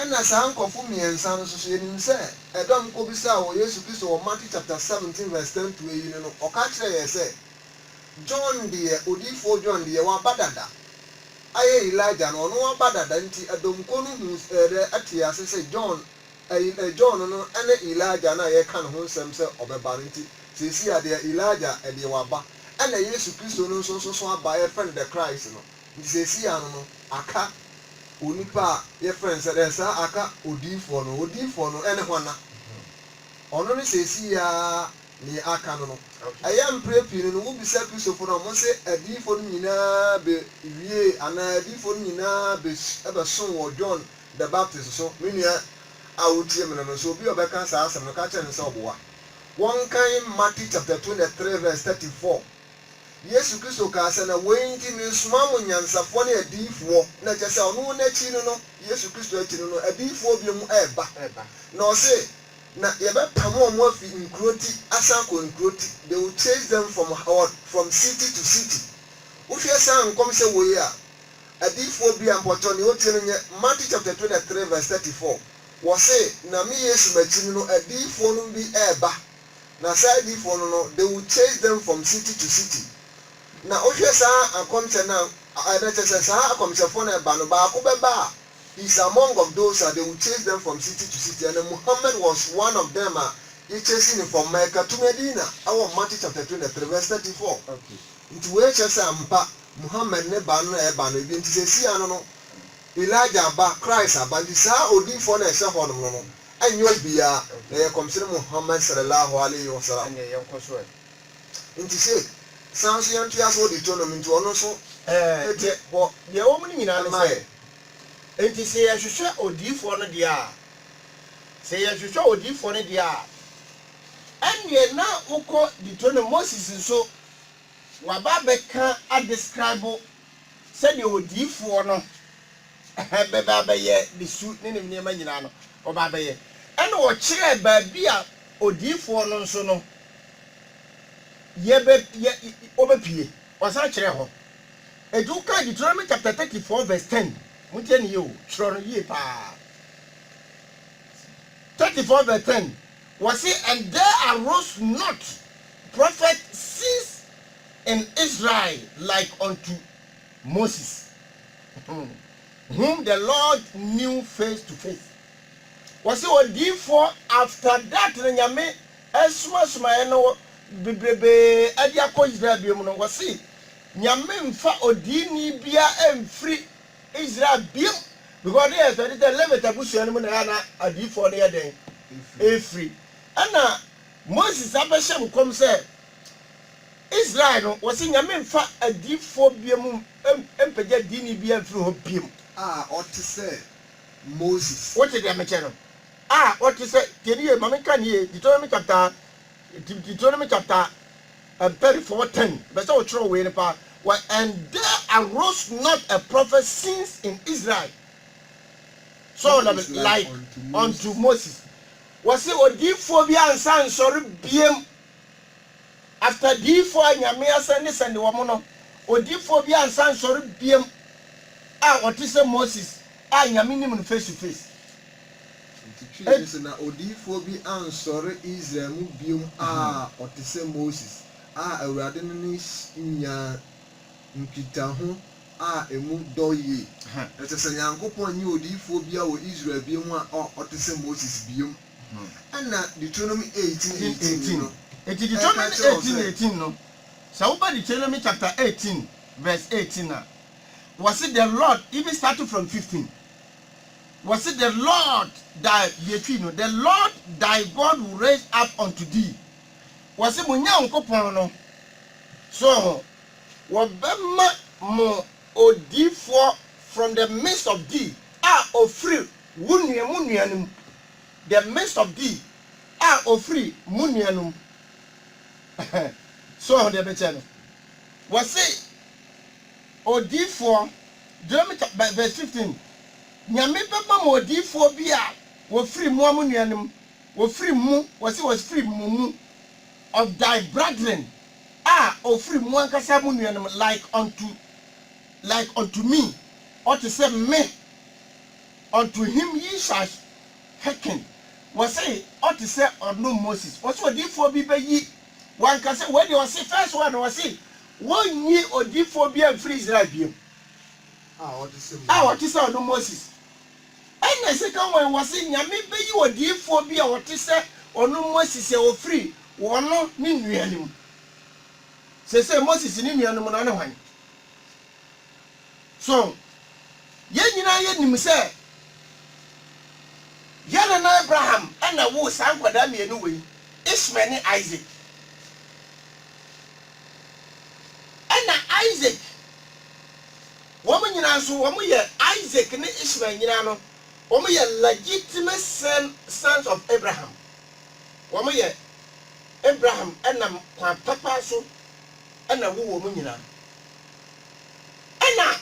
Ɛna saa nkurɔfo mmiɛnsa no soso yɛnim sɛ ɛdɔm kɔbisaa wɔ Yesu Kristo wɔ Matthew chapter 17 verse 10 to eyi no no ɔka kyerɛɛ yɛ sɛ John deɛ odiyifoɔ John deɛ waba dada ayɛ Elijah no ɔno waba dada nti ɛdɔm kuo no huu ɛdɛ tee ase sɛ John John no ɛne Elijah no a yɛka ne ho nsɛm sɛ ɔbɛba no nti seesei a deɛ Elijah deɛ waba ɛna Yesu Kristo no nso soso aba yɛfrɛ no the Christ no. Nti seesei ano no aka onipa a yɛfrɛ no sɛ dɛn? Saa aka odiyifoɔ no. Odiyifoɔ no ne hwana? Ɔno ne seesei ara nea aka no no. Ɛyɛ a mprɛ pii no no wobisa Kristofo no a wɔse adiyifoɔ no nyina ara bɛwiee anaa adiyifoɔ no nyina ara bɛsoo wɔ John the Baptist so. Me nua a wotie me no no, sɛ obi a ɔbɛka saa asɛm no, ka kyerɛ no sɛ ɔboa wɔnkan Matthew chapter twenty three verse thirty four. Yesu Kristo kaa sɛ, Na woi nti meresomaa mo nyansafoɔ ne adiyifoɔ, na kyerɛ sɛ ɔno n'akyi no no, Yesu Kristo akyi no no, adiyifoɔ bio mu reba, na ɔse, Na yɛbɛpamo ɔmo afi nkuro ti asan akɔ nkuro ti, they will chase them from what? From city to city. Wohwɛ saa nkɔmhyɛ woi a, adiyifoɔ bia mpɔkyɛw nea ɔtie no nyɛ, Matthew chapter twenty three verse thirty four, wɔse, Na me Yesu m'akyi no no, adiyifoɔ nom bi reba, Na saa adiyifoɔ no no, they will chase them from city to city. Na wohwɛ saa akɔmhyɛ no a, ɛ, na kyerɛ sɛ saa akɔmhyɛfoɔ no a ɛba no, baako bɛba a, he is among of those a they will chase them from city to city, ɛna Muhammad was one of them a yɛ chase no from Mecca to Medina, ɛwɔ Matthew chapter 23 verse 34. Okay. Nti wei kyerɛ sɛ ampa, Muhammad ne ba no na ɛba no, ebia nti seesei ano no, Elijah aba, Christ aba, nti saa odiyifoɔ no a ɛhyɛ hɔnom no no, Ɛnyɛ obiara na ɛyɛ Kɔmhyɛni Muhammad sallallaahu alaihi wa sallam ɛnneɛ yɛn nkɔsoɛ nti sei, san nso yɛn ntoa so wɔ Deuteronomy nti ɔno nso ɛdi hɔ Deɛ ɛwɔ mu no nyinaa ne sɛ, enti sɛ yɛhwehwɛ Odiyifoɔ no deɛ a, sɛ yɛhwehwɛ Odiyifoɔ no deɛ a, ɛnneɛ na wokɔ Deuteronomy, Moses nso waba abɛka a describe Sɛdeɛ odiyifoɔ no bɛba abɛyɛ ne su ne ne nneɛma nyinaa no, ɔba abɛyɛ. Ɛnna ɔkyerɛɛ baabi a odiyifoɔ no nso no yɛ bɛ yɛ ɔbɛpue. Ɔsan kyerɛɛ hɔ. Enti woka Deuteronomy chapter thirty four verse ten, motie no yie o, twerɛ no yie paa. Thirty four verse ten, wɔse and there arose not prophet since And Israel like unto Moses, whom the Lord knew face to face. Wɔse odiyifoɔ after that no Nyame soma somaeɛ no bebrebee de akɔ Israel biom no wɔse Nyame mfa odiini biara mfiri Israel biom because ne yɛ expect sɛ Levite abusua no mu na ɛyɛ a na adiyifoɔ no yɛ dɛn? Ɛfiri. Ɛna Moses abɛhyɛ nkɔm sɛ Israel no, wɔse Nyame mfa adiyifoɔ biom mpagya diini biaa mfiri hɔ biom. A ɔte sɛ Moses. Wote deɛ mekyɛ no? A ɔte sɛ, tie no yie, ma menka no yie, Deuteronomy chapter, Deuteronomy chapter um, 34, 10, mepɛ sɛ wotwerɛ wei no paa, wɔ And there arose not a prophet since in Israel, so ɔlɔ me, like unto Moses. Wɔse odiyifoɔ biaa nsa nsɔre biom After diyifoɔ a Nyame asan ne sɛnde wɔn no, odiyifoɔ bi ansan nsɔre biam a ɔte sɛ Moses a Nyame nim no face to face. Enti twi ne sɛ na odiyifoɔ bi ansɔre Israel mu biom a ɔte sɛ Moses a Awurade ne no nyaa nkitaho a emu dɔ yie. Ɛsɛ sɛ Nyankopɔn nyi odiyifoɔ biara wɔ Israel biom a ɔte sɛ Moses biom. Enti Deuteronomy 18 18 no, sɛ woba Deuteronomy chapter 18 verse 18 a, wɔse the Lord, even starting from 15, wɔse the Lord thy, yɛtwi no, the Lord thy God will raise up unto thee, wɔse mo Nyankopɔn no, so ho, wɔbɛma mo odiyifoɔ from the midst of thee, a ɔfiri Wo nua mo nuanom, the midst of thee, a ofiri mo nuanom. So wahu deɛ ɛbɛkyɛ no? Wɔse odiyifoɔ, Deuteronomy chap. Ver. Verse fifteen, Nyame bɛma mo odiyifoɔ bi a wɔfiri mo a mo nuanom, wɔfiri mo, wɔse wɔfiri mo mu, of thy brethren, a ofiri mo ankasa mo nuanom, like unto, like unto me, ɔte sɛ me. Unto him ye shall hearken, wɔse ɔte sɛ ɔno Moses, wɔse odiyifoɔ bi bɛyi w'ankasa wei deɛ wɔse first one wɔse wɔnyi odiyifoɔ biara mfiri Israel biom a ɔte sɛ ɔno Moses, ɛna second one wɔse Nyame bɛyi odiyifoɔ bi a ɔte sɛ ɔno Moses sɛ ɔfiri wɔn ne nua no mu, seesei Moses ne nua no mu no ɔne hwan? So yɛn nyinaa yenim sɛ yɛn nana Abraham na woo saa nkwadaa mmienu wei, Ismael ne Isak? Ɛnna Isak, wɔn nyinaa nso, wɔyɛ Isak ne Ismael nyinaa no, wɔyɛ legitimate son, sons of Abraham. Wɔyɛ Abraham nam kwan papa so na woo wɔn nyinaa. Ɛnna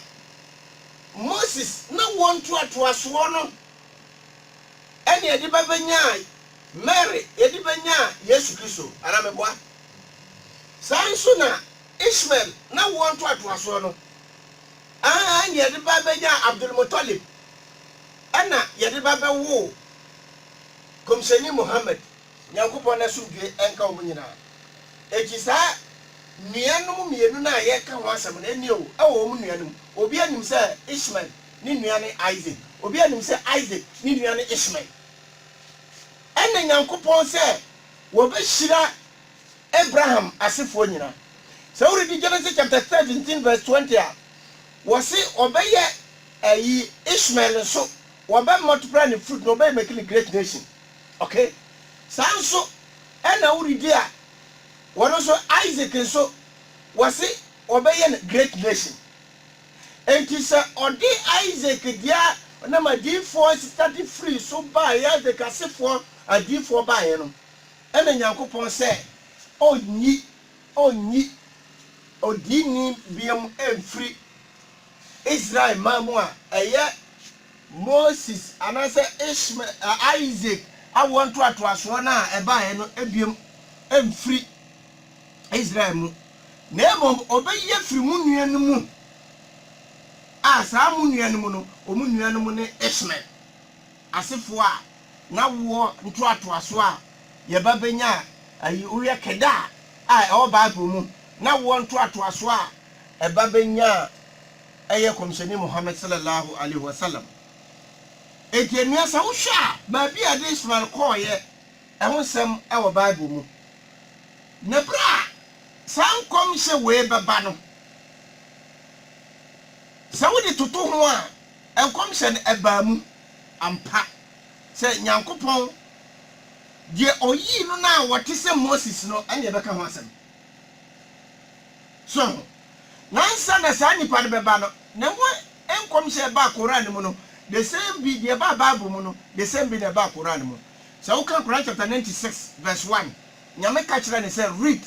Moses ne wɔn ntoatoasoɔ no na yɛde bɛbɛnyaa Mary, yɛde bɛnyaa Yesu Kristo, anaa meboa? Saa ara nso na Ishmael ne wɔn ntoatoasoɔ no ara na yɛde bɛbɛnyaa Abdul-Muttalib, ɛnna yɛde bɛbɛwoo Kɔmhyɛni Muhammad, Nyankopɔn n'asomdwoe nka wɔn nyinaa. Enti saa nuanom mmienu no a yɛreka ho asɛm no, ɛnneɛ o, ɛwɔ wɔn nua no mu. Obiara nim sɛ Ishmael ne nua ne Isaac. Obiara nim sɛ Isaac ne nua ne Ishmael. Ɛnna Nyankopɔn sɛ wɔbɛhyira Abraham asefoɔ nyinaa. Sɛ woredi Genesis chapter seventeen verse twenty a, wɔse wɔbɛyɛ ayi, Ishmael nso, wɔbɛ multiply ne fruit na wɔbɛyɛ make no great nation. Ok saa nso ɛna wo redi a wɔno nso Isaac nso wɔse wɔbɛyɛ no great nation enti sɛ ɔde Isaac dea nam adiyifoɔ nsesade firii so baeɛ Isaac asefoɔ adiyifoɔ baeɛ no ɛna Nyankopɔn sɛ ɔnyi ɔnyi odiini biam mfiri Israel man mu a ɛyɛ Moses anaasɛ Ishma ɛ, Isaac awoɔ ntoatoasoɔ no a ɛbaeɛ no bio mfiri Israel mu, na mmom ɔbɛyi afiri mo nua no mu, a saa mo nua no mu no, wɔn nuanom ne Ishmael asefoɔ a n'awoɔ ntoatoasoɔ a yɛba bɛnya a, ayi, wohwɛ Kedar a ɛwɔ Bible mu, n'awoɔ ntoatoasoɔ a ɛba bɛnya a. ɛyɛ Kɔmhyɛni Muhammad Sallallahu Alaihi Wasallam. Enti ɛnnua sɛ wohwɛ a baabi a ɛde Ismael kɔeɛ ho nsɛm wɔ Bible mu. Na berɛ a saa nkɔmhyɛ wei bɛba no, sɛ wode toto ho a, nkɔmhyɛ no ɛbaa mu ampa sɛ Nyankopɔn, deɛ Ɔyii no no a ɔte sɛ Moses no, ɛne ɛbɛka ho asɛm. So ansa na saa nnipa no bɛba no, na ɛho nkɔmhyɛ a ɛbaa Koran no mu no, the same bi, deɛ ɛbaa Bible mu no, the same bi na ɛbaa Koran no mu. Sɛ wokan Koran chapter 96 verse 1, Nyame ka kyerɛɛ no sɛ, Read.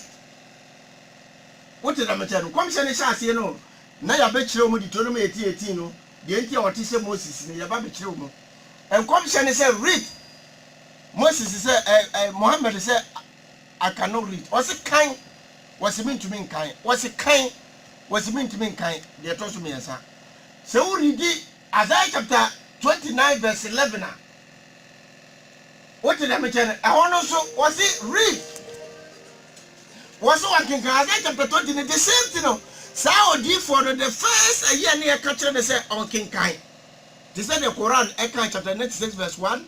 Wote deɛ mekyerɛ no? Nkɔmhyɛ no hyɛ aseɛ no, na yɛabɛkyerɛ wɔn Deuteronomy 18, 18 no, deɛ nti a wɔte sɛ Moses no, yɛaba abɛkyerɛ wɔn. Nkɔmhyɛ no sɛ, Read. Moses sɛ, ɛɛ, ɛɛ, Muhammad sɛ, I cannot read. Ɔse kan. Wɔse mentumi nkan. Wɔse kan. Wɔse mentumi nkan deɛ ɛtɔ so mmiɛnsa. Sɛ wo ridi Isaiah chapter 29 verse 11 a, wote deɛ mekyɛ no, ɛhɔ no nso wɔse read. Wɔse wɔnkenkan Isaiah chapter 20 no, the same thing no, saa odiifoɔ no, the first ayi a ne yɛka kyerɛ no sɛ ɔnkenkan. Te sɛ deɛ Quran ɛka chapter 96 verse 1,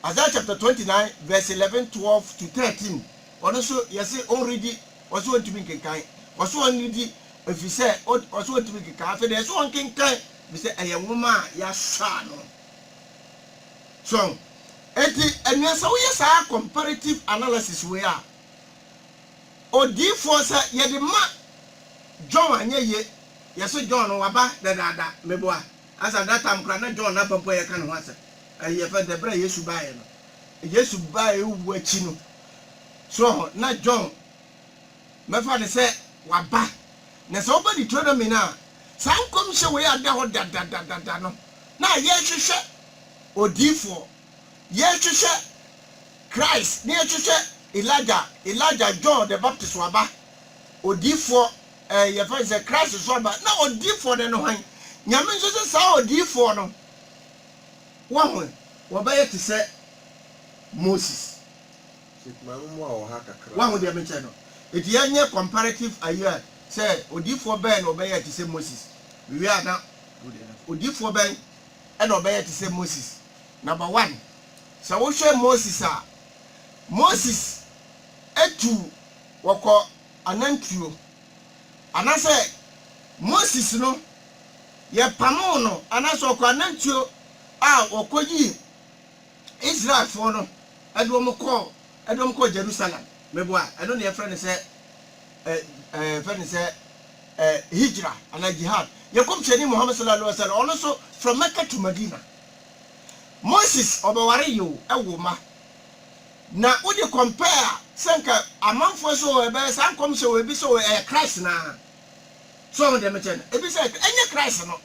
Isaiah chapter twenty nine verse eleven twelve to thirteen ɔno nso yɛsi ɔnredi ɔsi ɔntumi nkenkan ɔsi ɔnredi efisɛ ɔsi ɔntumi nkenkan afei de ɛsɛ ɔnkenkan efisɛ ɛyɛ nwoma a yɛasɔ ano so eti enua sɛ woyɛ saa comparative analysis wei a odiifoɔ sɛ yɛde ma John anyɛ yie yɛsi John no waba dadaada meboa. As at that time koraa na John n'afa mpo a yɛka ne ho asɛm ɛɛ yɛfrɛ no sɛ bere a Yesu baeɛ no, Yesu baeɛ wu akyi no, so wɔ hɔ, na John bɛfa no sɛ waba. Na sɛ woba Deuteronomy no a, saa nkɔmhyɛ wei ada hɔ dadadadada no, na yɛrehwehwɛ odiyifoɔ, yɛrehwehwɛ Christ, na yɛrehwehwɛ Elijah, Elijah, John the Baptist waba, odiyifoɔ. Eh, yɛfrɛ no sɛ Christ so aba. Na odiyifoɔ no ne hwan? Nyame nso sɛ saa odiyifoɔ no, wahu ɛ, wɔbɛyɛ te sɛ Moses. Wahu deɛ mekyerɛ no? Enti yɛnyɛ comparative ayi a, sɛ odiyifoɔ bɛn na ɔbɛyɛɛ te sɛ Moses? Mewie a na odiyifoɔ bɛn na ɔbɛyɛɛ te sɛ Moses? Number one, sɛ wohwɛ Moses a, Moses tu wɔkɔ anantwuo, anasɛ Moses no yɛpamoo no anasɛ ɔkɔ anantwuo a wɔkɔyii Israelfoɔ no de wɔn kɔɔ de wɔn kɔɔ Jerusalem, meboa a, ɛno na yɛfrɛ no sɛ ɛ ɛ yɛfrɛ no sɛ ɛ hijra anaa jihad. Yɛn Kɔmhyɛni Muhammad sallallahu alaihi wasallam, ɔno nso from Mecca to Medina, Moses ɔbɛwaree o, ɛwoo mma. Na wode compare a, sɛ nka amanfoɔ sɛ o ɛbɛyɛ saa nkɔmhyɛ wɔ ebi sɛ o ɛyɛ Christ no ara. So woahu deɛ mekyerɛ no? Ebi sɛ ɛyɛ ɛnyɛ Christ no.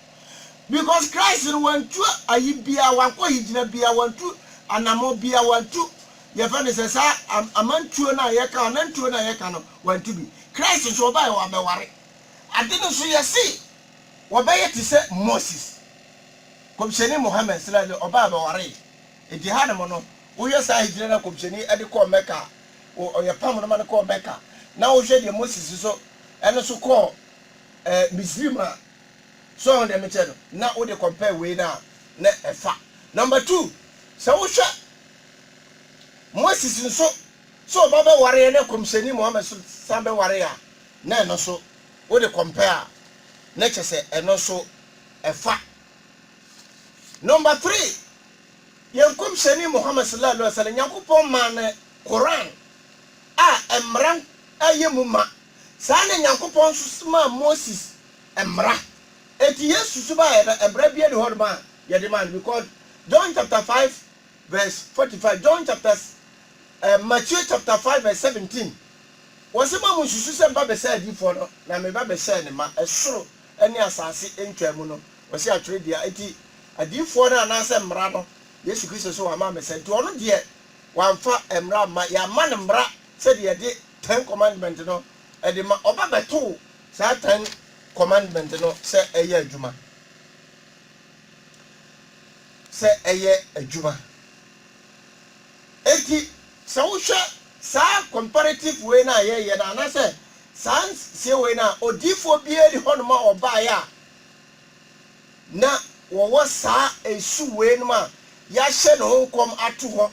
Because Christ no wantu ayi biara, wankɔ higyina biara, wantu anamɔ biara, wantu yɛfɛ no sɛ saa amantuo no a yɛka, anantuo no a yɛka no, wantu bi. Christ nso ɔbaeɛ wabɛware. Ade no nso yɛse wɔbɛyɛ te sɛ Moses. Kɔmhyɛni Mohammed, sla, ɔbaeɛ ɔbɛwaree. Enti hanom no, wohwɛ saa Hijra no a Kɔmhyɛni de kɔɔ Mɛka a, wɔpam no ma no kɔɔ Mɛka, na wohwɛ deɛ Moses nso ɛno nso kɔɔ ɛɛ Misrim a, so wahu deɛ mekyerɛ no? Na wode compare wei no a, na ɛfa. Number two, sɛ wohwɛ Moses nso, sɛ ɔba bɛwareɛ na Kɔmhyɛni Muhammad nso san bɛwareɛ a, na ɛno nso wode compare a, na kyerɛ sɛ ɛno nso ɛfa. Number three, Yɛn Nkɔmhyɛni Muhammad Sallallahu Alaihi Wasallam, Nyankopɔn maa no Qur'aan a mmara yɛ mu ma. Saa na Nyankopɔn nso somaa Moses mmara. Enti yɛn susubaeɛ no, mmara biara nni hɔnom a yɛde maa no because John chapter five verse forty five, John chapter eh, Matthew chapter five verse seventeen, wɔse, Moammonsusu sɛ meba bɛsɛe adiyifoɔ no, na meba bɛsɛe ne mma, ɛsoro ne asase ntwaa mu no, wɔse atwerɛ dua, enti adiyifoɔ no anaasɛ mmara no, Yesu Kristo se wamma ammɛsa, enti ɔno deɛ wamfa mmara amma, yɛamma no mmara sɛdeɛ yɛde Ten Commandment no de ma, ɔba bɛtoo saa Ten Commandment no sɛ ɛyɛ adwuma, sɛ ɛyɛ adwuma. Enti sɛ wohwɛ saa comparative wei no a yɛreyɛ no anaasɛ saa nsiesiei wei no a, odiyifoɔ biara nni hɔnom a ɔbaeɛ a na wɔwɔ saa nsu weinom a yɛahyɛ ne ho nkɔm ato hɔ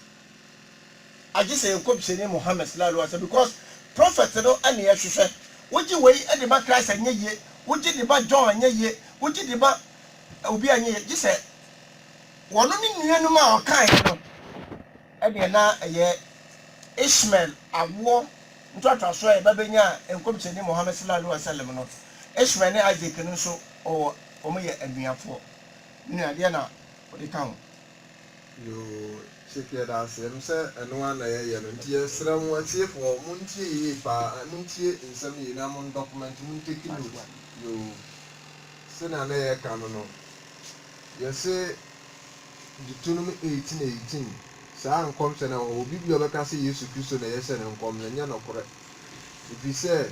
agye sɛ yɛn nkɔmhyɛni Muhammad sallallahu alaihi wasallam because prophet no na yɛhwehwɛ. Wogye wei de ma Christ a ɛnyɛ yie, wogye de ma John a ɛnyɛ yie, wogye de ma obi a ɛnyɛ yie gye sɛ Wɔn ne nuanom a wɔkaeɛ no deɛ na ɛyɛ Ishmael awoɔ ntoatoasoɔ a ɛba bɛnyaa Nkɔmhyɛni Muhammad Sallallahu Alaihi Wasallam no. Ishmael ne Isaac no nso wɔ wɔn yɛ anuafoɔ. Me nua, deɛn na wode ka ho? Yoo, Sheik yɛda ase. Ɛno sɛ ɛno ara na yɛyɛ no. Nti yɛsrɛ mo atiefoɔ, montie yie pa ara, montie nsɛm yie na mon document, mon take note. Yoo, sɛnea na yɛka no no, Yɛse Deuteronomy eighteen eighteen, saa nkɔmhyɛ no a ɛwɔ hɔ, obi bi a ɔbɛka sɛ Yesu Kristo na yɛhyɛ no nkɔm no, ɛnyɛ nokorɛ. Ɛfiri sɛ,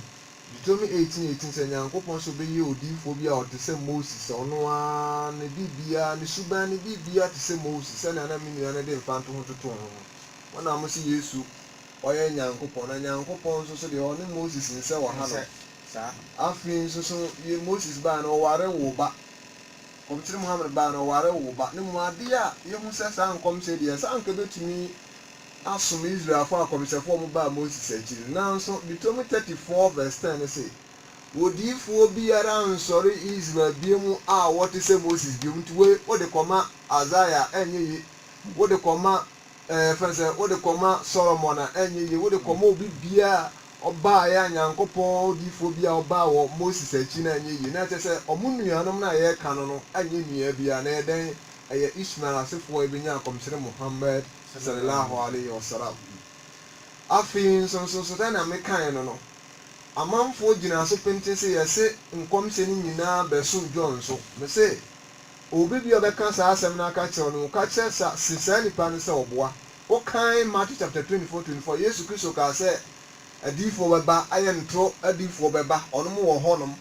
Deuteronomy eighteen eighteen, sɛ Nyankopɔn sɛ ɔbɛyɛ odiyifoɔ bi a ɔte sɛ Moses a, ɔno ara ne biribiara, ne suban ne biribiara te sɛ Moses, sɛdeɛ na me nua no de mfantoho totoo ho no. Wɔnam mo se Yesu, ɔyɛ Nyankopɔn, na Nyankopɔn nso so deɛ, ɔne Moses nsɛ wɔ hanom. Afei nso so, Moses baeɛ no, ɔwaree woo ba. Nkɔmhyɛni Muhammad bae no, ɔwaree woo ba. Ne mu ade a yehu sɛ saa nkɔmhyɛ yi de, ɛsɛ a anka ebetumi asom Israelfo akɔmhyɛfo a wɔbaa Moses akyi no. Nanso, Deuteronomy thirty four verse ten no se, Odiyifo biara rensɔre Israel bio mu a ɔte sɛ Moses bio. Nti wei wode kɔma Isaiah a, ɛnyɛ ye. Wode kɔma. Ɛfiri sɛ wode kɔma Solomon a, ɛnyɛ yie, wode kɔma obi biara a ɔbaeɛ a Nyankopɔn odiyifoɔ biara a ɔbaa wɔ Moses akyi no a, ɛnyɛ yie. Na ɛkyerɛ sɛ wɔn nuanom no a yɛreka no no nyɛ nua biara, na ɛyɛ dɛn? Ɛyɛ Ismael asefoɔ a ɛbɛnyaa Akɔmhyɛni Muhammad Sallallahu Alaihi Wasallam. Afei nso nso sɛdeɛ mekaeɛ no no, amanfoɔ gyinaa so pintinn sɛ yɛse nkɔmhyɛ no nyinaa bɛso John so. Mese, Obi bi a ɔbɛka saa asɛm no aka kyerɛ wo no, ka kyerɛ sa, se saa nipa no sɛ ɔboa wo kan Matthew chapter-twenty-four, twenty-four, Yesu Kristo kaa sɛ adiyifoɔ bɛba, ayɛ ntorɔ adiyifoɔ bɛba, ɔnom wɔ hɔ nom.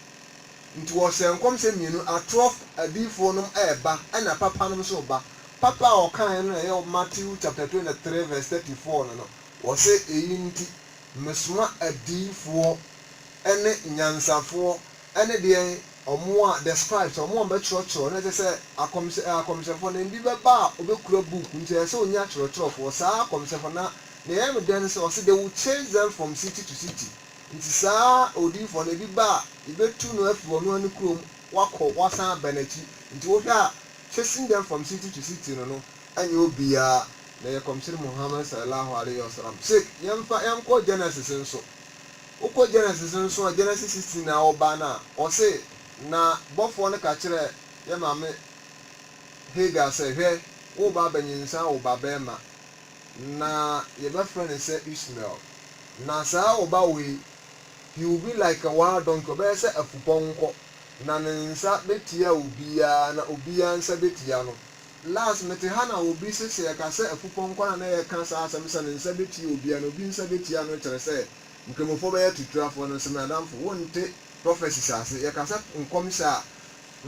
Nti ɔhyɛɛ nkɔm sɛ mmienu, atorɔf adiyifoɔ nom reba, ɛna papa nom nso reba. Papa a ɔkaeɛ no na ɛyɛ Matthew chapter-twenty-three verse thirty-four no no, ɔse eyi nti mesoma adiyifoɔ ne nyansafoɔ Ɛne deɛn, wɔn a, the scribes, wɔn a wɔbɛtwerɛtwerɛ, na kyerɛ sɛ, akɔmhyɛ, ɛɛ, akɔmhyɛfoɔ no, ebi bɛba a wɔbɛkura book, nti ɛsɛ sɛ wɔnya atwerɛtwerɛfoɔ, saa akɔmhyɛfoɔ no, na deɛ ɛyɛ me dɛ ne sɛ, ɔse, they will chase them from city to city, nti saa odiyifoɔ no, ebi ba a, yɛbɛtu no afiri ɔno ara ne kuro mu, wakɔ, wasan aba n'akyi, nti wohwɛ a, chasing them from city to city no no, ɛnyɛ obiara na ɛyɛ Kɔmhyɛni Muhammad Sallallahu Alaihi Wasallam, Sheikh, yɛmfa, yɛnkɔ Genesis nso, Wokɔ Genesis no so a, Genesis sixteen na ɔba no a, ɔse, Na bɔfoɔ no ka kyerɛɛ yɛ maame Hagar sɛ, Hwɛ, woreba abɛnyinsɛn awo ba barima, na yɛbɛfrɛ no sɛ Ishmael, na saa wo ba wei, he will be like a wild donkey, ɔbɛyɛ sɛ afupɔnkɔ, na ne nsa bɛtia obiara, na obiara nsa bɛtia no. Last, mete ha na obi se sɛ yɛka sɛ afupɔnkɔ no a na yɛka saa asɛm sɛ ne nsa bɛtia obiara na obi nsa bɛtia no kyerɛ sɛ, Nkramofoɔ bɛyɛ atuturafoɔ no nso m'adamfo wonte prophecies ase yɛka sɛ nkɔmhyɛ a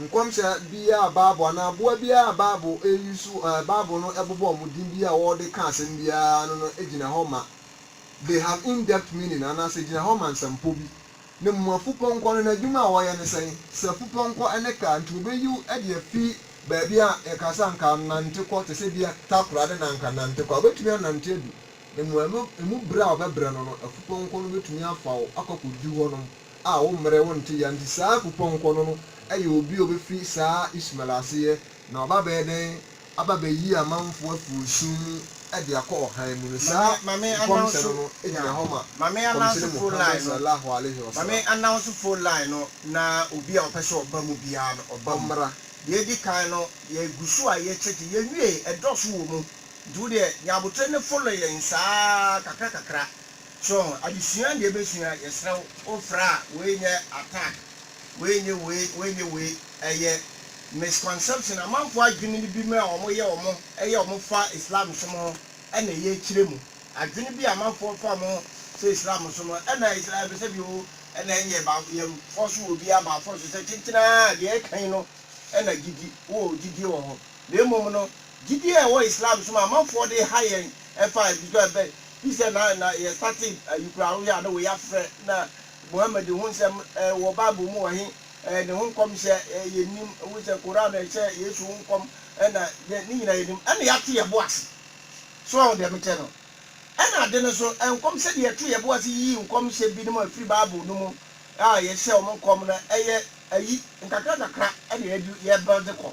nkɔmhyɛ biara a bible anaa aboa biara a bible ɛ use ɛɛ bible no ɛbobɔ wɔn din biara a wɔde ka asɛm biara ano no gyina hɔ ma they have in depth meaning anaa sɛ gyina hɔ ma nsɛmpɔ bi ne mu afupɔnkɔ no n'adwuma a wɔyɛ ne sɛn sɛ afupɔnkɔ ɛne car nti wɔbɛyi wo de afi baabi a yɛka sɛ anka nante kɔ te sɛ bia takoradi na anka nante kɔ a wobɛtumi anante adu Mmoano emu brɛ a wɔbɛbrɛ no no, afupɔnkɔ no betumi afa wo akɔ akodu hɔnom a wo mmrɛ wo nte yɛ nti saa afupɔnkɔ no no yɛ obi a obefi saa Ismael ase yɛ na waba abɛyɛ dɛn aba abɛyi amanfoɔ afi osum mu de akɔ ɔhan mu no saa nkɔmhyɛ no no gyina hɔ ma Nkɔmhyɛni Muhammad Sallallahu Alaihi Wasallam. Nti wodeɛ nya aboterɛ ne follow yɛn saa kakra kakra so ho adesua na yɛbɛsua yɛsrɛ wo wofrɛ a wei nyɛ attack wei nyɛ wei wei nyɛ wei ɛyɛ misconception amanfoɔ adwene no bi mu a wɔn yɛ wɔn ɛyɛ wɔn fa Islam som ho ɛna ɛyɛ akyire mu adwene bi a amanfoɔ fa wɔn ho sɛ Islam som no ɛna ɛbɛ sɛ bio ɛna ɛnyɛ ba yɛn force wɔ obiara ba force sɛ kyenkyenaa deɛ ɛka yi no ɛna gyigyi wowɔ gyidie wɔ ho na mmom no Gyidie a ɛwɔ Islam som a amanfoɔ de ha yɛn ɛfa a ɛfitɔ ɛbɛ firi sɛ na na yɛ startee ayi koraa wohwɛ a na wei afrɛ na Muhammad ho nsɛm ɛɛ wɔ bible mu wɔ he ɛɛ ne ho nkɔmhyɛ ɛɛ yɛ nnim wohu sɛ Quran a ɛhyɛ Yesu ho nkɔm ɛna yɛ ne nyina yɛ nnim ɛna yɛate yɛ bo ase so wahu deɛ mekyɛ no ɛna ade no so nkɔm sɛ deɛ yɛto yɛ bo ase yiyi nkɔmhyɛ binom a ɛfiri bible no mu a yɛhyɛ wɔn nkɔm no ɛyɛ ayi nkakra nkakra ɛna yɛde yɛ builde kɔ.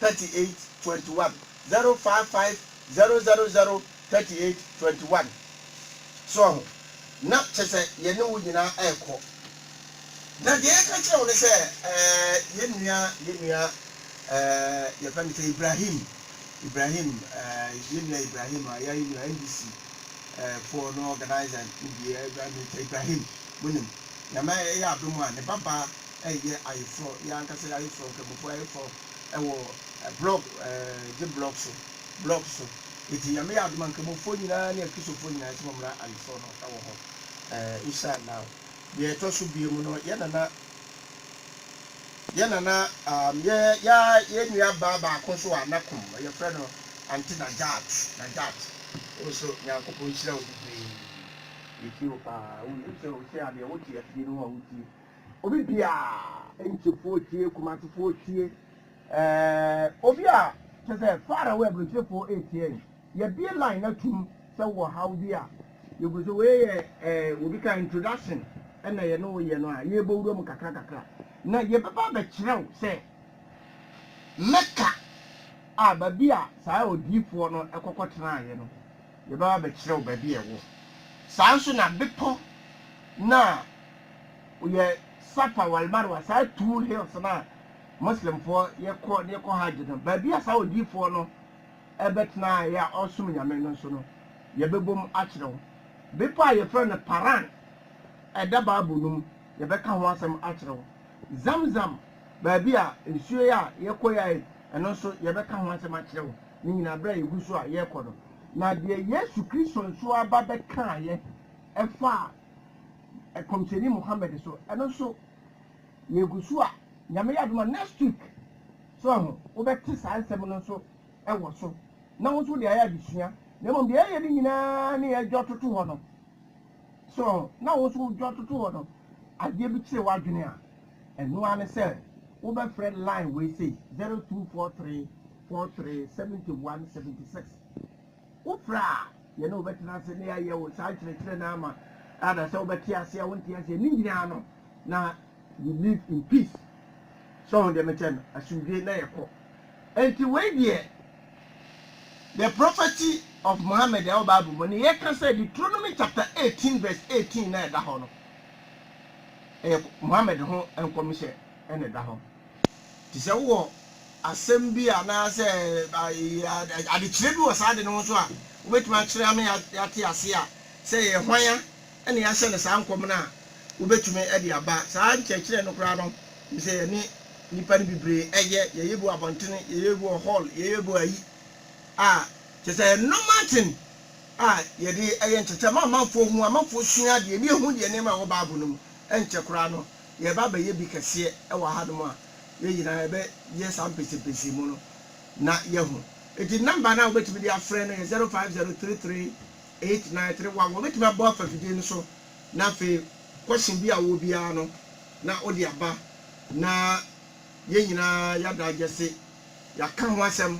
thirty eight twenty one zero five five zero zero zero thirty eight twenty one so ɔho na kyɛ sɛ yɛne wo nyinaa ɛɛkɔ na deɛ yɛka kyerɛ wo ne sɛ ɛɛ yɛn nua yɛn nua ɛɛ yɛfɛ ne sɛ Ibrahim Ibrahim ɛɛ yɛn nua Ibrahim a yɛn nua NDC ɛɛ foɔ no organizer ne deɛ ɛɛ Ibrahim mo nim nyame yɛ adom a ne babaa Ɛyɛ ayeforɔ, yɛn ankasa yɛn ayeforɔ, Nkramofoɔ ayeforɔ wɔ blog, gye blog so, blog so. Enti Nyame yɛ adom a Nkramofoɔ nyinaa ne Akristofoɔ nyinaa yɛsɛ mo mmra ayeforɔ no wɔ hɔ. Insha Allah. Deɛ ɛtɔ so biemu no, yɛn nana, yɛn nana, um, yɛ, yɛ, yɛn nua baa baako nso wɔ Anakom, yɛfrɛ no Ante Najat, Najat. Wo nso Nyankopɔn nhyira wo bebree. Yɛtie wo paa. Wo, wo sɛ, wo sɛ adeɛ wote afidie no ho a wotie. Obi biaa nkyefoo tie kumasefoo tie eeh obi a kyesɛ far away abronkyirefoo eetie no yɛbie line na tum sɛ wowɔ haw bi a yɛgu so wei yɛ eeh obi ka introduction na yɛne wo yɛ no a yɛɛbɔ wura mu kakra kakra na yɛbɛba abɛkyerɛ wo sɛ mecca a baabi a saa odiifoɔ no kɔkɔ tenaaeɛ no yɛbɛba abɛkyerɛ wo baabi a ɛwɔ saa nso na bepɔ no a Yɛ Safa wal Marwa, saa two hills no a Muslimfoɔ yɛkɔ de kɔ Hajj no, baabi a saa odiyifoɔ no bɛtenaeɛ a ɔresom Nyame no nso no, yɛbɛbom akyerɛ wo. Bepɔ a yɛfrɛ no Paran, ɛda Bible no mu, yɛbɛka ho asɛm akyerɛ wo. Zamzam, baabi a nsuo yɛ a yɛkɔeɛ a ɛno nso yɛbɛka ho asɛm akyerɛ wo. Ne nyinaa berɛ a yɛgu so a yɛrekɔ no. Na deɛ Yesu Kristo nso aba bɛkaeɛ faa. Ɛkɔmhyɛni Muhammad so ɛno nso yɛgu so a Nyame yɛ adom a next week so ahu wobɛte saa nsɛm no nso ɛwɔ so na wo nso wode ayɛ adesua na mmom deɛ ɛyɛ no nyinaa ne yɛdwɔ toto hɔ no so ahu na wo nso wodwɔ toto hɔ no adeɛ bi kyerɛ w'adwene a ɛno ara ne sɛ wobɛfrɛ line wei sei 0243 43 71 76 Wopere a, yɛne wo bɛtena ase na yɛayɛ wo saa nkyerɛkyerɛ no ama, anaasɛ wobɛte ase a wonte aseɛ, ne nyinaa no, na you live in peace. So wohu deɛ mekyerɛ no? Asomdwoeɛ na yɛkɔ. Enti wei deɛ, the prophecy of Muhammad a ɛwɔ Bible mu, deɛ yɛka sɛ Deuteronomy chapter eighteen verse eighteen no a ɛda hɔ no, ɛyɛ Muhammad ho nkɔmhyɛ na ɛda hɔ. Te sɛ wowɔ asɛm bi anaasɛ adekyerɛ bi wɔ saa ade no ho nso a, wobɛtumi akyerɛ ama yɛate aseɛ a sɛ ɛyɛ hwan a na yɛahyɛ no saa nkɔm no a wobɛtumi de aba. Saa nkyerɛkyerɛ no koraa no, nim sɛ yɛne nnipa no bebree yɛ, yɛyɛ bi wɔ abɔntene, yɛyɛ bi wɔ hɔl, yɛyɛ bi wɔ ayi a, kyerɛ sɛ ɛyɛ normal thing a yɛde yɛ nkyerɛkyerɛ ama amanfoɔ hu, amanfoɔ sua adeɛ, na ɛhu deɛ nneɛma a ɛwɔ Bible no mu. Ɛnkyɛ koraa no. yɛreba abɛyɛ bi kɛseɛ wɔ hanom a, yɛn nyinaa yɛbɛyɛ saa mpɛnsɛmpɛnsɛmu no na yɛahu. Enti number no a wobɛtumi de afrɛ no yɛ zero five zero three three eight nine three one. Wɔbɛtumi abɔ afa fidie no so na afei question bi a wowɔ biara no na wode aba na yɛn nyinaa yɛadagyɛse, yɛaka ho asɛm,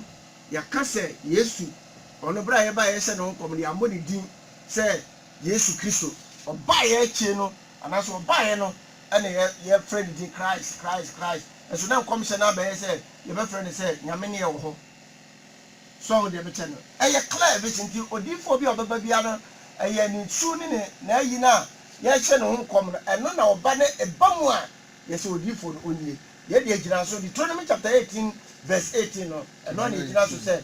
yɛaka sɛ Yesu, ɔno berɛ a yɛbaeɛ yɛhyɛ ne ho nkɔm no yɛammɔ ne din sɛ Yesu Kristo. Ɔbaeɛ akyire no Anaasɛ ɔbaeɛ no na yɛfrɛ ne din Christ, Christ, Christ, nso na nkɔmhyɛ no abɛyɛ sɛ yɛbɛfrɛ no sɛ Nyame ne ɛwɔ hɔ. So wahu deɛ mekyɛ no? Ɛyɛ clear vision. Nti odiyifoɔ bi a ɔbɛba biara no, ɛyɛ ne su ne ne n'ayi no a yɛrehyɛ ne ho nkɔm no, ɛno na ɔba na ɛba mu a yɛsɛ odiyifoɔ no ɔnie. Yei deɛ ɛgyina so, Deuteronomy chapter eighteen verse eighteen no, ɛno na ɛgyina so sɛ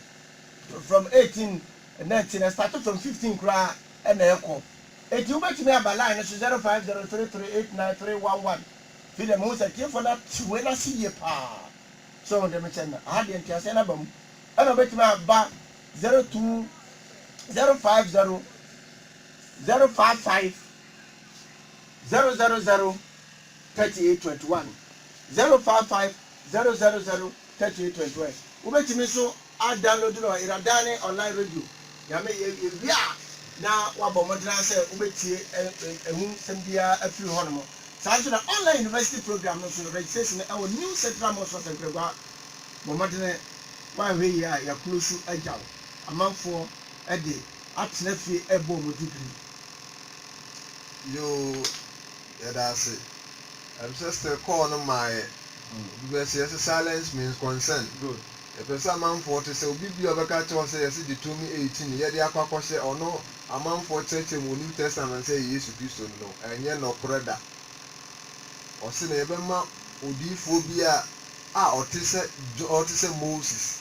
from eighteen, nineteen, ɛstarte from fifteen koraa na ɛkɔ. Enti wobɛtumi aba line no so 0503389311 fi dɛ mehu sɛ atiefo no ate wei no ase yie paa. So wohu dɛ mekyerɛ no no? Aha deɛ nteaseɛ no aba mu. Ɛna wobɛtumi aba 02050055003821, 0550003821. Wobɛtumi nso A Download no Iradaane online radio Nyame yɛ wie a na wabɔ mmɔden ayɛ sɛ wobɛtie ɛho nsɛm biara afiri hɔ nom. Saa nso na online university program no nso registration wɔ New Central Mosque of Nkragua Bɔ mmɔdene woanhwɛ yie a yɛ close agyaw amanfoɔ de atena fie rebɔ wɔn degree yoo. Yɛda ase. Ɛm sɛ still call no mmaeɛ. Obi bɛse yɛse silence means concern. Good. Yɛpɛ sɛ amanfoɔ te sɛ obi biaa ɔbɛka kyerɛ wo sɛ yɛse Deuteronomy 18 no yɛde akɔ akɔhyɛ ɔno amanfoɔ kyerɛkyerɛ mu wɔ New Testament sɛ ɛyɛ Yesu Kristo no no, ɛnyɛ nɔkorɛ da. Ɔse na yɛbɛma odiyifoɔ bi a a ɔte sɛ Jon ɔte sɛ Moses.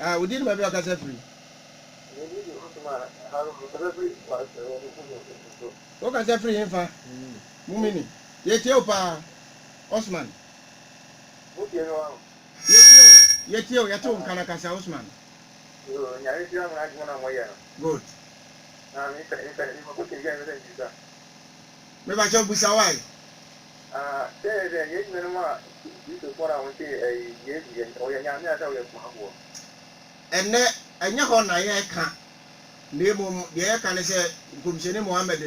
Ah, wodi ne baabi a ɔkasa firi. Wokasa firi hefa? Mumini. Yɛtie wo paa, Osman. Yɛtie wo, yɛtie wo, yɛte wo nka na kasa, Osman. Good. Mepakyɛw bisa wo ae. Ah, sɛɛ dɛ yɛn nuanom a Kristofo na wɔnte ɛɛ Yesu yɛ, ɔyɛ Nyame ansa ɔyɛ somafoɔ? Ɛnnɛ, ɛnyɛ hɔ na yɛreka, na mmom deɛ yɛreka ne sɛ Nkɔmhyɛni Muhammad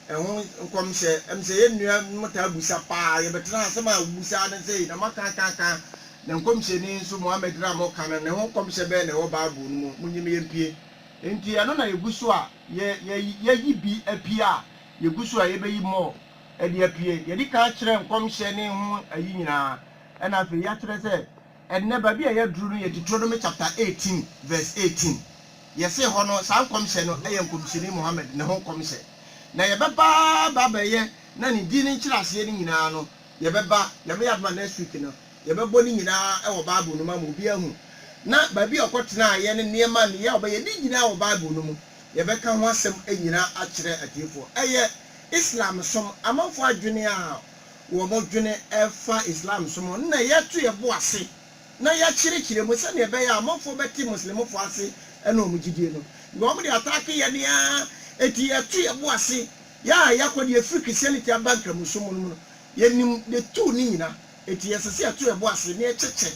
ho nkɔmhyɛ, ɛm sɛ yɛn nuanom taa bisa paa, yɛbɛtena ha, asɛm a wobisa ara ne sei, na moaka aka aka, na Nkɔmhyɛni nso Muhammad no a moreka no, ne ho nkɔmhyɛ bɛn na ɛwɔ Bible no mu, monnye me yɛmpue. Enti ɛno na yɛgu so a, yɛ, yɛ, yɛayi bi apue a. Yegu so a yebeyi more de apue. Yɛadi kan akyerɛ nkɔmhyɛ ne ho ayi nyinaa, ɛnna afei yɛakyerɛ sɛ ɛnnɛ baabi a yɛaduru no yɛ Deuteronomy chapter eighteen verse eighteen. Yɛsee hɔ no, saa nkɔmhyɛ no yɛ Nkɔmhyɛni Muhammad ne ho nkɔmhyɛ. Na yɛbɛba aba abɛyɛ na ne din ne nkyerɛaseɛ no nyinaa no, yɛbɛba, Nyame yɛ adom a, next week no. Yɛbɛbɔ ne nyinaa wɔ Bible no mu ama obiara ahu, na baabi a ɔkɔtenaeɛ ne nneɛma nneyɛɛ a ɔbɛyɛɛ, ne nyinaa wɔ Bible no mu. Yɛbɛka ho asɛm nyinaa akyerɛ atiefoɔ. Ɛyɛ Islamsom amanfoɔ adwene a wɔdwene fa Islamsom ho no na yɛato yɛn bo ase na yɛakyerɛkyerɛ mu sɛdeɛ ɛbɛyɛ a amanfoɔ bɛte Muslimfoɔ ase ne wɔn gyidie no. Because wɔde ataake yɛn ara enti yɛto yɛn bo ase. Yɛn a yɛakɔ deɛ yɛfiri Christianity aba Nkramosom no mu no, yɛnim the two no nyinaa. Enti ɛsɛ sɛ yɛto yɛn bo ase na yɛkyɛkyɛ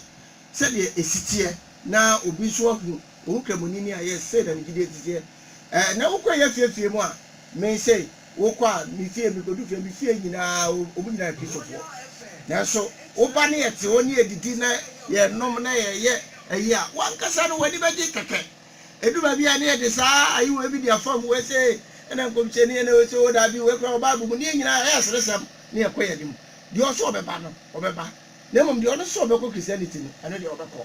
sɛdeɛ ɛsi teɛ na obi nso ahu wo ho Kramoni a, yes, sei na me gyidie te teɛ. Ɛɛ, na wokɔ yɛ afie afie mu a? Me sei, wokɔ a, me fie, mekɔdu fie a, me fie nyinaa wɔn nyinaa yɛ Kristofoɔ. Nanso woba na yɛte hɔ na yɛdidi na yɛnom na yɛyɛ ayi a, w'ankasa no w'ani bɛgye kɛkɛ. Ɛdu baabi a na yɛde saa ayewa bi di afam, wei sei, ɛnna nkɔmhyɛni, ɛnna wei sei, oo daabi, wei koraa wɔ Bible mu, ne yɛn nyinaa ɛyɛ aseresɛm na yɛkɔ yɛn anim. Deɛ ɔse ɔbɛba no, ɔbɛba. Na mmom deɛ ɔno se ɔbɛkɔ Christianity no, ɛno deɛ ɔbɛkɔ.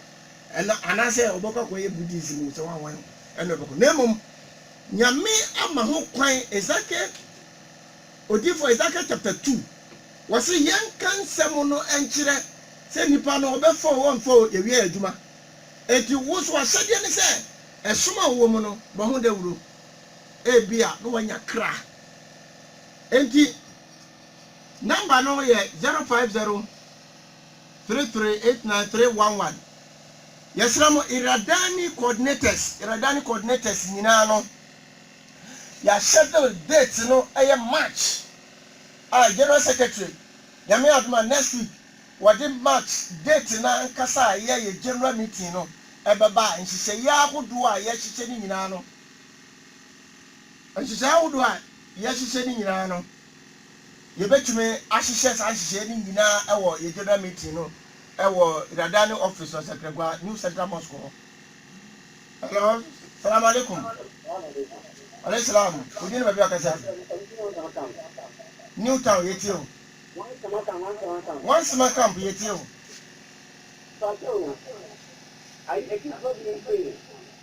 Ɛna, anaasɛ ɔbɛkɔ akɔyɛ Buddhism o, sɛ wan wan o, ɛno ɔbɛkɔ. Na mmom Nyame ama ho kwan, Ezekiel, Odiyifoɔ Ezekiel chapter two, wɔse yɛnka nsɛm no nkyerɛ, sɛ nnipa no, ɔbɛfa o, ɔnfa o, yɛwie yɛn adwuma. Enti wo nso ahyɛdeɛ ne sɛ, ɛsom a wowɔ mu no, bɔ ho dawuro. Ebia na woanya kra. Enti. Number no yɛ zero five zero three three eight nine three one one. Yɛsrɛ mo Irrawaddy coordinators, Irrawaddy coordinators nyinaa no, yɛ schedule date no yɛ March a General Secretary, Nyame adom a next week wɔde March date no ankasa a yɛ yɛ General meeting no bɛba a nhyehyɛeɛ ahodoɔ a yɛhyehyɛ no nyinaa no, nhyehyɛeɛ ahodoɔ a yɛhyehyɛ no nyinaa no. Yɛbɛtumi ahyehyɛ saa nhyehyɛeɛ no nyinaa wɔ yɛn General Meeting no wɔ Radani Office wɔ Sɛkrɛgwa, New Central Mosque hɔ. Hello, Salaam Alaikum. Alaikum Salaam. Wo din ne baabi a ɔkasa fi? New Town, yɛtie wo. Wansema Camp, yɛtie wo. Pacho, ayi, ɛti sɔ bi nti.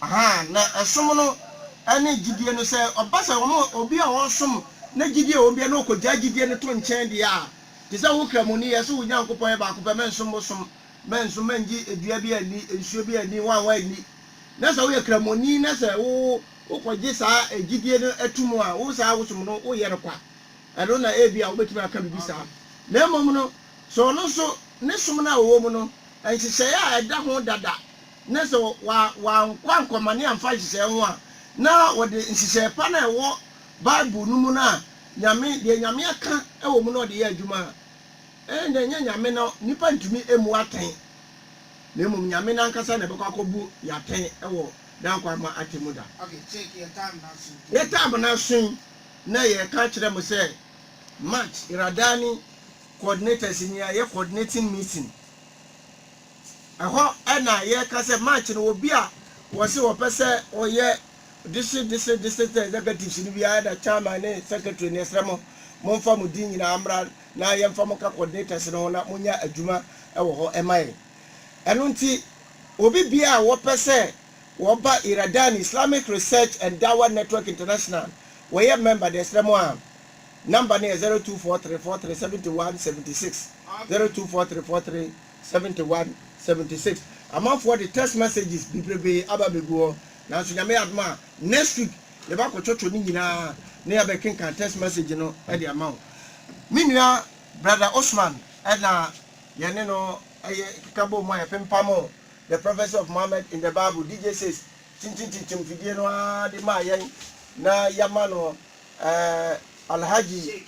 Ahaa, na ɛsom no ne gyidie no, sɛ ɔba sɛ wɔn a, obi a ɔresom na gyidie wɔ mu biara na ɔkɔgyaa gyidie no to nkyɛn deɛ a, te sɛ wo Kramoni, yɛ sɛ wo Nyankopɔn yɛ baako pɛ, mɛnsom bosom, mɛnsom, mɛngye dua bi anni, nsuo bi anni, hwan hwan anni. Na sɛ woyɛ Kramoni na sɛ wo wokɔgye saa gyidie no to mu a, wo saa wosom no woyɛ no kwa. Ɛno na ebia wobɛtumi aka biribi saa. Na mmom no, sɛ ɔno nso ne som no a ɔwɔ mu no, nhyehyɛeɛ a ɛda ho dada na sɛ wɔankɔ ankɔmane amfa nhyehyɛe ho a, na wɔde nhyehyɛe pa no a ɛwɔ Bible no mu no a Nyame, deɛ Nyame aka wɔ mu no na wɔde yɛ adwuma a, ɛnde ɛnyɛ Nyame na nnipa ntumi mmu atɛn, na mmom Nyame no ankasa na ɛbɛkɔ akɔbu yɛn atɛn wɔ N'ankwaamma Atemmu Da. Yɛtaa amena so yi, na yɛreka akyerɛ mo sɛ March Radani Coordinators nyinaa yɛ Coordinating Meeting. Ɛhɔ na yɛka sɛ March no obi a wɔse wɔpɛ sɛ ɔyɛ District District District Executives no biara da Chairman ne Secretary no yɛsrɛ mo momfa mo din nyinaa mmra na yɛmfa mo nka Coordinators no ho na monyɛ adwuma wɔ hɔ mma yɛn. Ɛno nti obi biara a wɔpɛ sɛ wɔba Iradani Islamic Research and Dawah Network International wɔyɛ member no yɛsrɛ mo a number no yɛ zero two four three four three seventy one seventy six zero two four three four three Seventy one, seventy six amanfoɔ de text messages bebrebee aba abɛgu hɔ nanso Nyame yɛ adom a next week yɛbɛ akɔ twɔtwɔ ne nyinaa na yɛabɛ kenkan text message no de ama wo. Me nua Brother Osman na yɛne no yɛ keka bɔɔ mu a yɛpempam The Prophecy of Muhammad in the Bible, DJ Six, tintintintim fidie no ara de maa yɛn na yɛama no Eh Alhaji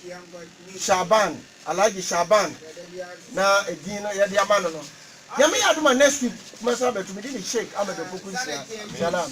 Shaban Alhaji Shaban na edin no yɛde ama no no Nyame yɛ adom a next week mɛsan abɛto mede ne Sheik Ahmed Opoku nhyira Salam.